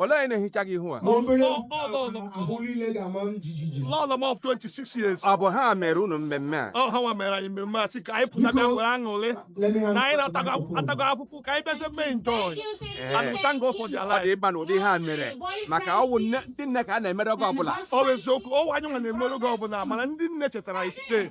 Olee onye na-ehicha gị ihu a? Ma obere Ọ- ọ- ọ- ọ- ahụ niile ga-ama m jijiji. Lọlọ m of 26 years. Ọ bụ ha mere unu mmemme a? Ọ ha nwa mere anyị mmemme a sị ka anyị pụta bịa nwere aṅụrị. Na anyị atago afụfụ ka anyị bịazie mee enjoy. And thank God for their life. Ọ dị ịba na ụdị ihe a mere maka ọ wụ ndị nne ka a na-emere oge ọbụla Ọ bụ eziokwu, ọ wụ anyị nwa na-emere oge ọbụla mana ndị nne chetara anyị today.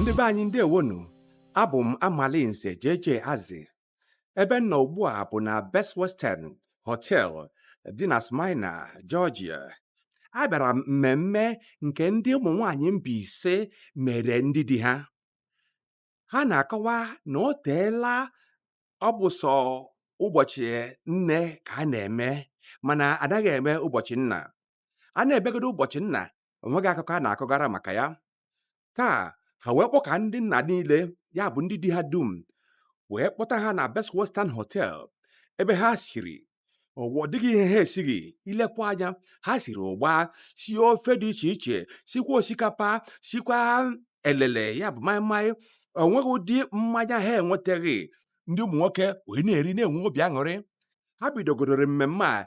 ndị be anyị ndewonu abụ m amalinze jeje azị ebe m nọ ugbu a bụ na Best Western Hotel dị na Smyrna, Georgia. Abịara m mmemme nke ndị ụmụ nwaanyị Mbaise mere ndị di ha. Ha na-akọwa na o teela ọ bụ sọ ụbọchị nne ka a na-eme mana anaghị eme ụbọchị nna. A na-emegodu ụbọchị nna, o nweghị akụkọ a na-akọgara maka ya taa ha wee kpọkọ ndị nna niile ya bụ ndị di ha dum wee kpọta ha na Best Western Hotel ebe ha siri ọ dịghị ihe ha esighị i lekwa anya ha siri ụgba sie ofe dị iche iche sikwa osikapa sikwa elele ya bụ maịmaị o nweghị ụdị mmanya ha enwetaghị ndị ụmụ nwoke wee na-eri na-enwe obi aṅụrị ha bidogodoro mmemme a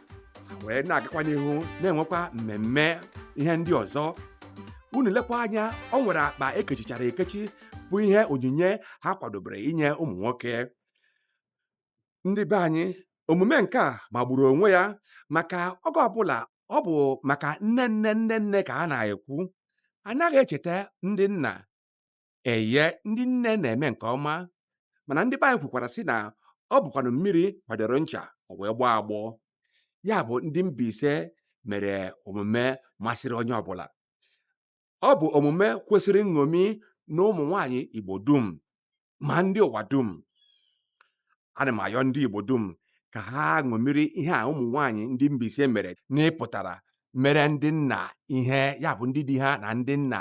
ha wee na-agakwa n'ihu na-enwekwa mmemme ihe ndị ọzọ unu lekwa anya o nwere akpa e kechichara ekechi bụ ihe onyinye ha kwadobere inye ụmụ nwoke ndị be anyị omume nke a magburu onwe ya maka oge ọbụla ọ bụ maka nne nne nne nne ka a na-ekwu anaghị echeta ndị nna Eye, ndị nne na-eme nke ọma mana ndị be anyị kwukwara sị na ọ bụkwanụ mmiri kwadoro ncha o wee gbọọ agbọ ya bụ ndị Mbaise mere omume masịrị onye ọbụla ọ bụ omume kwesịrị nṅomi na ụmụ nwaanyị Igbo dum ma ndị ụwa dum ana m ayọ ndị Igbo dum ka ha ṅomiri ihe a ụmụ nwaanyị ndị Mbaise mere n'ịpụtara mere ndị nna ihe ya bụ ndị di ha na ndị nna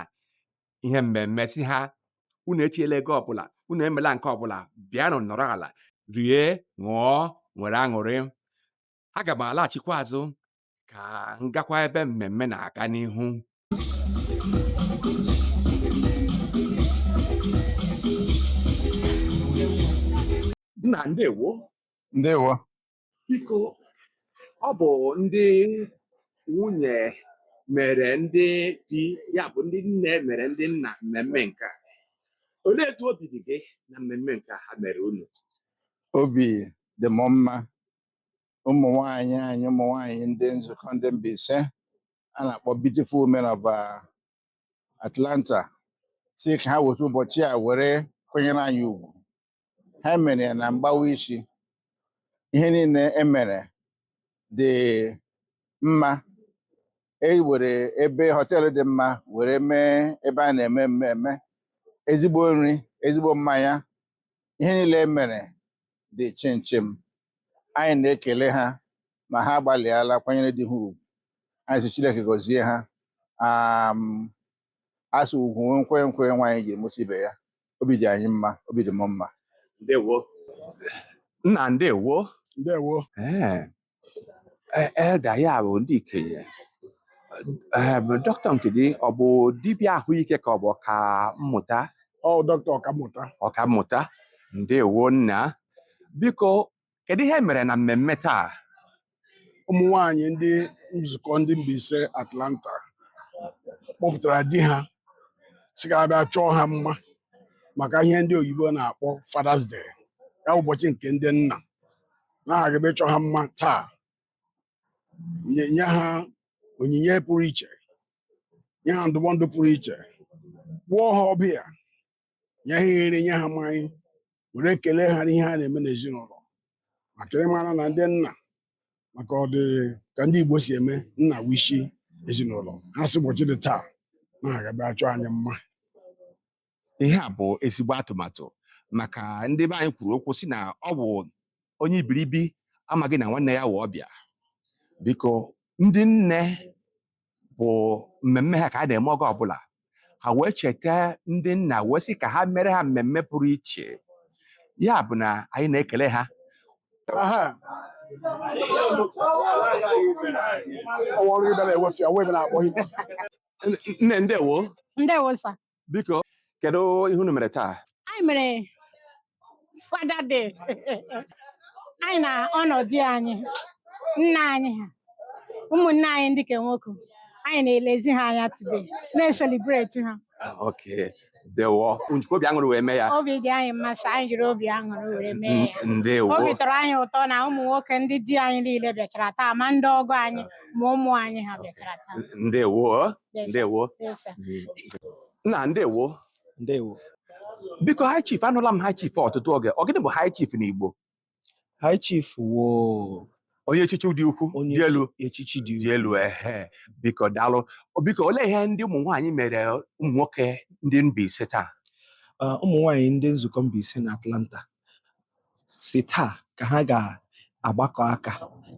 ihe mmemme sị ha unu etinyela ego ọbụla unu emela nke ọbụla bịanụ nọrọ ala rie ṅụọ nwere aṅụrị aga m alaghachikwa azụ ka m gakwa ebe mmemme na-aga n'ihu nna ndewo ndewo Biko, ọ bụ ndị nwunye mere ndị di ya bụ ndị nne mere ndị nna mmemme nke a. Olee etu obi dị gị na mmemme nke ha mere unu? Obi dị m mma. Ụmụ nwanyị anyị, ụmụ nwanyị ndị nzukọ ndị Mbaise a na-akpọ Beautiful Women of uh, Atlanta sị ka ha weta ụbọchị a were kwanyere anyị ugwu ha mere ya na mgbawa isi ihe niile e mere dị mma e were ebe họteelụ dị mma were mee ebe a na-eme mmemme ezigbo nri ezigbo mmanya ihe niile e mere dị chịmchịm anyị na-ekele ha ma ha agbalịala kwanyere di ha ugwu anyị sị Chineke gọzie ha a sị ugwu wụ nkwenye nkwenye nwaanyị ji amụta ibe ya obi dị anyị mma obi dị m mma ndewo nna ndewo ndewo ee e- elder ya bụ ndị ikenye ee dọkịta nke gị ọ bụ dibịa ahụike ka ọ bụ ọkammụta ọ dọkịta ọkammụta ọkammụta ndewo nna biko Kedu ihe mere na mmemme taa? Ụmụ nwanyị ndị nzukọ ndị Mbaise Atlanta kpọpụtara di ha sị ka a bịa chọọ ha mma maka ihe ndị oyibo na-akpọ Father's Day ya wụ ụbọchị nke ndị nna na ha ga-abịa chọọ ha mma taa nye nye ha onyinye pụrụ iche nye ha ndụmọdụ pụrụ iche kpọọ ha ọbịa nye ha iri nye ha mmanya were ekele ha n'ihe ha na-eme n'ezinụlọ maka ị mara na ndị nna maka ọ dị ka ndị Igbo si eme nna wụ ishi ezinụlọ ha sị ụbọchị dị taa na ha ga-abịa chọọ anyị mma ihe a bụ ezigbo atụmatụ maka ndị be anyị kwuru okwu sị na ọ bụ onye ibiribi amaghị na nwanne ya wụ ọbịa biko ndị nne bụ mmemme ha ka a na-eme oge ọbụla ha wee cheta ndị nna wee sị ka ha mere ha mmemme pụrụ iche ya bụ na anyị na-ekele ha Aha. Ọwa ọrụ ibe na-ewefe, ọwa ibe na-akpọ ibe. nne ndewo Ndewo sir. biko kedu ihe unu mere taa anyị mere Father Day anyị na-honour di anyị nna anyị ha ụmụnne anyị ndị ke nwoke anyị na-elezi ha anya today na-ecelebrate ha okay ndewo unu jikwa obi aṅụrị wee mee ya obi dị anyị mma sir anyị jiri obi aṅụrị wee mee ya N- ndewo obi tọrọ anyị ụtọ na ụmụ nwoke ndị di anyị niile bịachara taa ma ndị ọgọ anyị ma ụmụ anyị ha bịachara taa ndewo Yes, sir. ndewo Yes, sir. nna ndewo ndewo biko high chief anụla m high chief ọtụtụ oge ọ gịnị bụ high chief n'igbo high chief wụ onye echichi dị ukwu onye dị elu echichi dị dị elu ehe biko daalụ biko olee ihe ndị ụmụ nwaanyị mere ụmụ nwoke ndị Mbaise taa Ah, ụmụ nwanyị ndị nzukọ Mbaise na Atlanta sị taa ka ha ga-agbakọ aka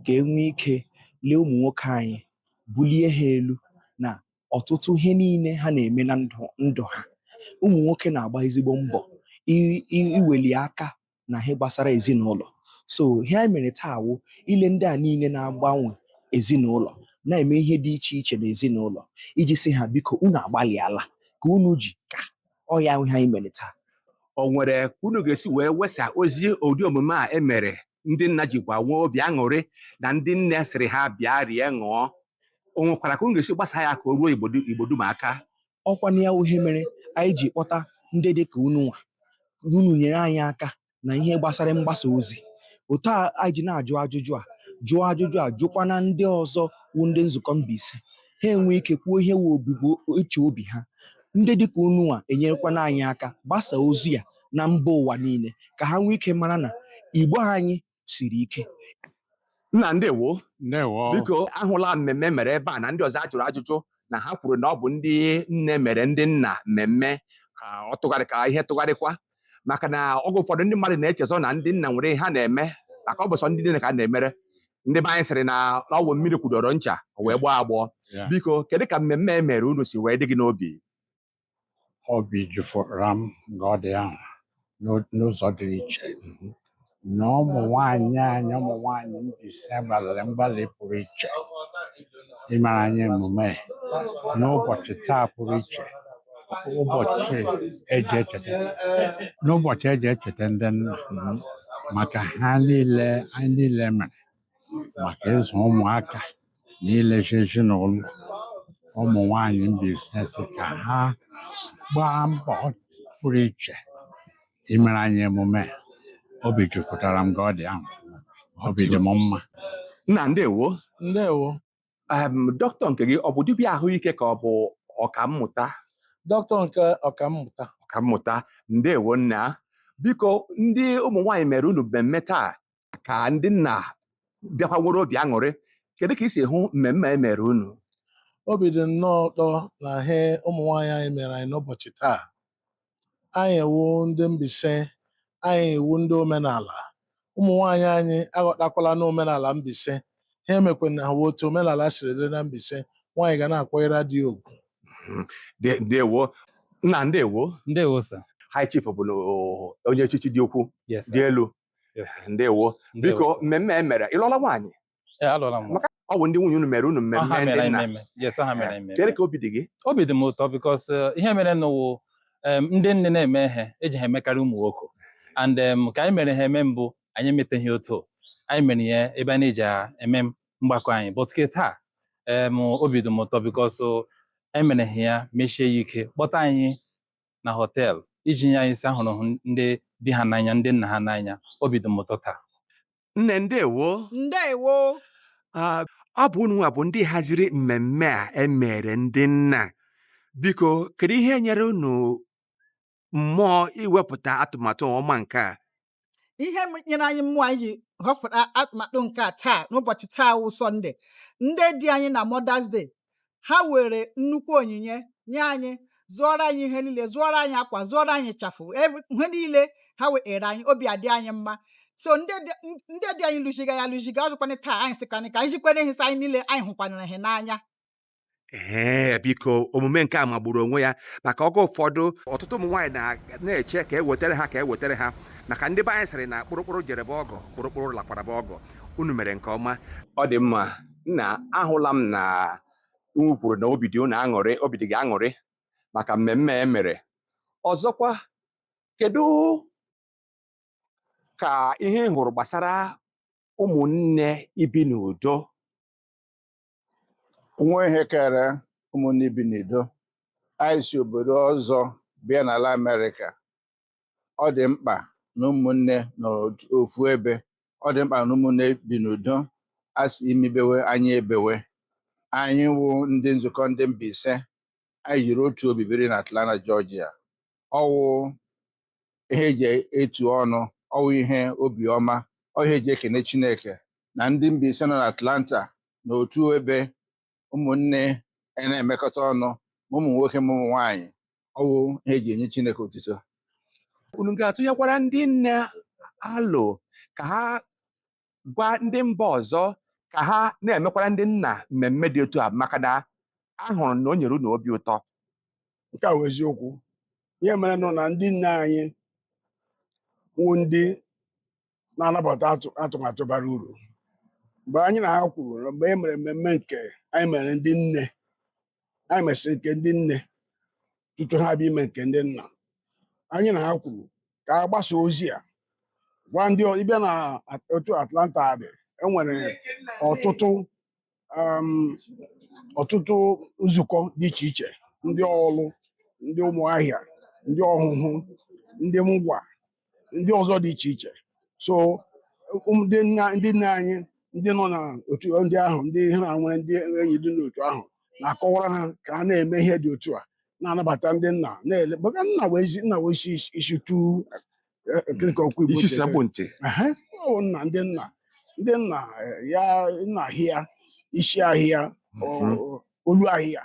ka e nwee ike lee ụmụ nwoke anyị bulie ha elu na ọtụtụ ihe niile ha na-eme na ndụ ha ụmụ nwoke na-agba ezigbo mbọ iweli aka na ihe gbasara ezinụlọ so ihe anyị mere taa wụ ile ndị a niile na-agbanwe ezinụlọ na-eme ihe dị iche iche n'ezinụlọ iji sị ha biko unu agbalịala ka unu ji ka ọ ya wụ ihe anyị mere taa o nwere ka unu ga-esi wee wesa ozi ụdị omume a e mere ndị nna jikwa nwee obi aṅụrị na ndị nne sịrị ha bịa rie ṅụọ o nwekwara ka unu ga-esi gbasa ya ka o ruo Igbo dum aka ọ kwa na ya wụ ihe mere anyị ji kpọta ndị dị ka unu nwa unu nyere anyị aka na ihe gbasara mgbasa ozi otu a anyị ji na-ajụ ajụjụ a jụọ ajụjụ a jụkwana ndị ọzọ wụ ndị nzukọ Mbaise ha enwee ike kwuo ihe wụ obibo uche obi ha ndị dịka unu nwa enyerekwana anyị aka gbasa ozi a na mba ụwa niile ka ha nwee ike mara na Igbo anyị siri ike nna ndewo ndewo biko ahụla mmemme mere ebe a na ndị ọzọ a jụrụ ajụjụ na ha kwuru na ọ bụ ndị nne mere ndị nna mmemme ka ọ tụgharị ka ihe tụgharịkwa maka na oge ụfọdụ ndị mmadụ na-echezọ na ndị nna nwere ihe ha na-eme maka ọ bụ sọ ndị nne ka a na-emere ndị be anyị sịrị na ọ wụ mmiri kwudoro ncha o wee gbọọ agbọọ Yeah. biko kedu ka mmemme e mere unu si wee dị gị n'obi obi jupụtara m nga ọ dị ahụ n'o- n'ụzọ dịrị iche na ụmụ nwanyị anyị ụmụ nwanyị Mbaise gbalịrị mgbalị pụrụ iche imere anyị emume n'ụbọchị taa pụrụ iche ụbọchị e ji echeta n'ụbọchị e ji echeta ndị nna maka ihe niile anyị niile mere maka ịzụ ụmụaka na ilezi ezinụlọ ụmụ nwanyị Mbaise sị ka ha gbaa mbọ pụrụ iche imere anyị emume a. obi jupụtara m nga ọ dị ahụ obi dị m mma nna ndewo ndewo em dọkịta nke gị ọ bụ dibịa ahụike ka ọ bụ ọkammụta dọkịta nke ọkammụta ọkammụta ndewo nna biko ndị ụmụ nwaanyị mere unu mmemme taa ka ndị nna bịakwa nwere obi aṅụrị kedu ka i si hụ mmemme e mere unu obi dị nnọọ ụtọ na ihe ụmụ nwaanyị anyị mere anyị n'ụbọchị taa anyị ewu ndị Mbaise anyị ewu ndị omenala ụmụ nwaanyị anyị aghọtakwala na omenala Mbaise ha emekwana ha otu omenala siri dịrị na Mbaise nwaanyị ga na-akwanyere di ya ugwu De- ndewo nna ndewo ndewo sir High Chief bụ onye echichi dị ukwu dị elu Yes, sir. ndewo Ndewo, sir. biko mmemme e mere ị lụọla nwaanyị Ee, alụọla m nwaanyị. ọ bụ ndị nwunye unu mere unu mmemme ndị nna Yes, ọ ha mere anyị mmemme. kedu ka obi dị gị obi dị m ụtọ because ihe mere n'ụwa em, ndị nne na-eme ihe eji ha emekarị ụmụ nwoke and em, ka anyị mere ha eme mbụ anyị emeteghị otu a. anyị mere ya ebe a na-eji a- eme mgbakọ anyị but ke taa em, obi dị m ụtọ because emere ha ya mechie ya ike kpọta anyị na hotel iji nye anyị sị ahụrụ ha ndị di ha n'anya ndị nna ha n'anya obi dị m ụtọ taa nne ndewo ndewo Ah, ọ bụ unu nwa bụ ndị haziri mmemme a emere ndị nna biko kedu ihe nyere unu mmụọ iwepụta atụmatụ ọma nke a ihe nyere anyị mmụọ anyị ji họfụta atụmatụ nke a taa n'ụbọchị taa wụ sọnde ndị di anyị na Mother's Day ha were nnukwu onyinye nye anyị zụọrọ anyị ihe niile zụọrọ anyị akwa zụọrọ anyị ịchafụ ihe niile ha were anyị obi adị anyị mma so ndị di anyị lụziga ya lụziga ọzọkwa na taa anyị sịkwana ka anyị jikwere ihe anyị niile anyị hụkwanara ha n'anya ee biko omume nke a magburu onwe ya maka oge ụfọdụ ọtụtụ ụmụ nwaanyị na- na-eche ka e wetara ha ka e wetara ha maka ndị be anyị sịrị na kpụrụkpụrụ jerebe ọgọ kpụrụkpụrụ lakwaraba ọgọ unu mere nke ọma ọ dị mma nna ahụla m na unu kwuru na obi dị unu aṅụrị obi dị gị aṅụrị maka mmemme e mere ọzọkwa kedu ka ihe ị hụrụ gbasara ụmụnne ibi n'udo nwa ihe kere ụmụnne ibi n'udo anyị si obodo ọzọ bịa n'ala Amerịka ọ dị mkpa na ụmụnne nọ ofu ebe ọ dị mkpa na ụmụnne bi n'udo a sị imi bewe anya ebewe anyị wụ ndị nzukọ ndị Mbaise anyị jiri otu obi biri na Atlanta Georgia ọ wụ ihe eji etu ọnụ ọ wụ ihe obiọma ọ ihe eji ekene Chineke na ndị Mbaise nọ n'Atlanta na otu ebe ụmụnne a na-emekọta ọnụ ma ụmụ nwoke ma ụmụ nwaanyị ọ wụ ihe eji enye Chineke otuto unu ga-atụnyekwara ndị nne alo ka ha gwa ndị mba ọzọ ka ha na-emekwara ndị nna mmemme dị otu a maka na ahụrụ na o nyere unu obi ụtọ nke a wụ eziokwu ihe merenụ na ndị nne anyị wụ ndị na-anabata atụ- atụmatụ bara uru mgbe anyị na ha kwuru na mgbe e mere mmemme nke anyị mere ndị nne anyị mesịrị nke ndị nne tutu ha abịa ime nke ndị nna anyị na ha kwuru ka a gbasa ozi a gwa ndị ọ- ị bịa na at- otu Atlanta dị e nwere ọtụtụ um, ọtụtụ nzukọ dị iche iche ndị Ọlụ ndị Ụmụahịa ndị Ọhụhụ ndị Ngwa ndị ọzọ dị iche iche so ụmụ- ndị nna ndị nna anyị ndị nọ n'otu ndị ahụ ndị ha na nwere ndị enyi dị n'otu ahụ na-akọwara ha ka ha na-eme ihe dị otu a na-anabata ndị nna na-ele maka nna wụ isi nna wụ isi isi tu nkirika okwu Igbo isi si akpụ ntị Ehe, ọ bụ nna ndị nna ndị nna eh, ya nna hịa isi ahịa ọ- Mhm. ọ- olu ahịa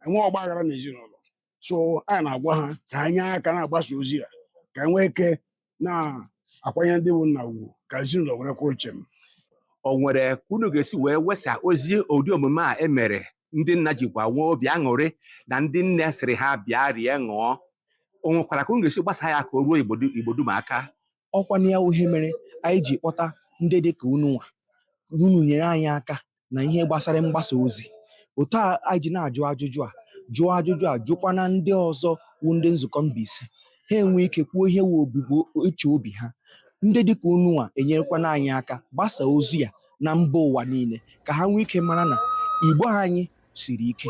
enwee ọgba aghara n'ezinụlọ so anyị na-agwa ha ka ha nye aka na-agbasa ozi a ka e nwee ike na-akwanye ndị bụ nna ugwu ka ezinụlọ were kwụrụ chem o nwere ka unu ga-esi wee wesa ozi ụdị omume a e mere ndị nna jikwa nwee obi aṅụrị na ndị nne sịrị ha bịa rie ṅụọ o nwekwara ka unu ga-esi gbasa ya ka o ruo Igbo du- Igbo dum aka ọkwa na ya wụ ihe mere anyị ji kpọta ndị dị ka unu nwa unu nyere anyị aka na ihe gbasara mgbasa ozi otu a anyị ji na-ajụ ajụjụ a jụọ ajụjụ a jụkwana ndị ọzọ wụ ndị nzukọ Mbaise ha enwee ike kwuo ihe wụ obi- uche obi ha ndị dị ka unu nwa enyerekwana anyị aka gbasa ozi ya na mba ụwa niile ka ha nwee ike mara na Igbo anyị siri ike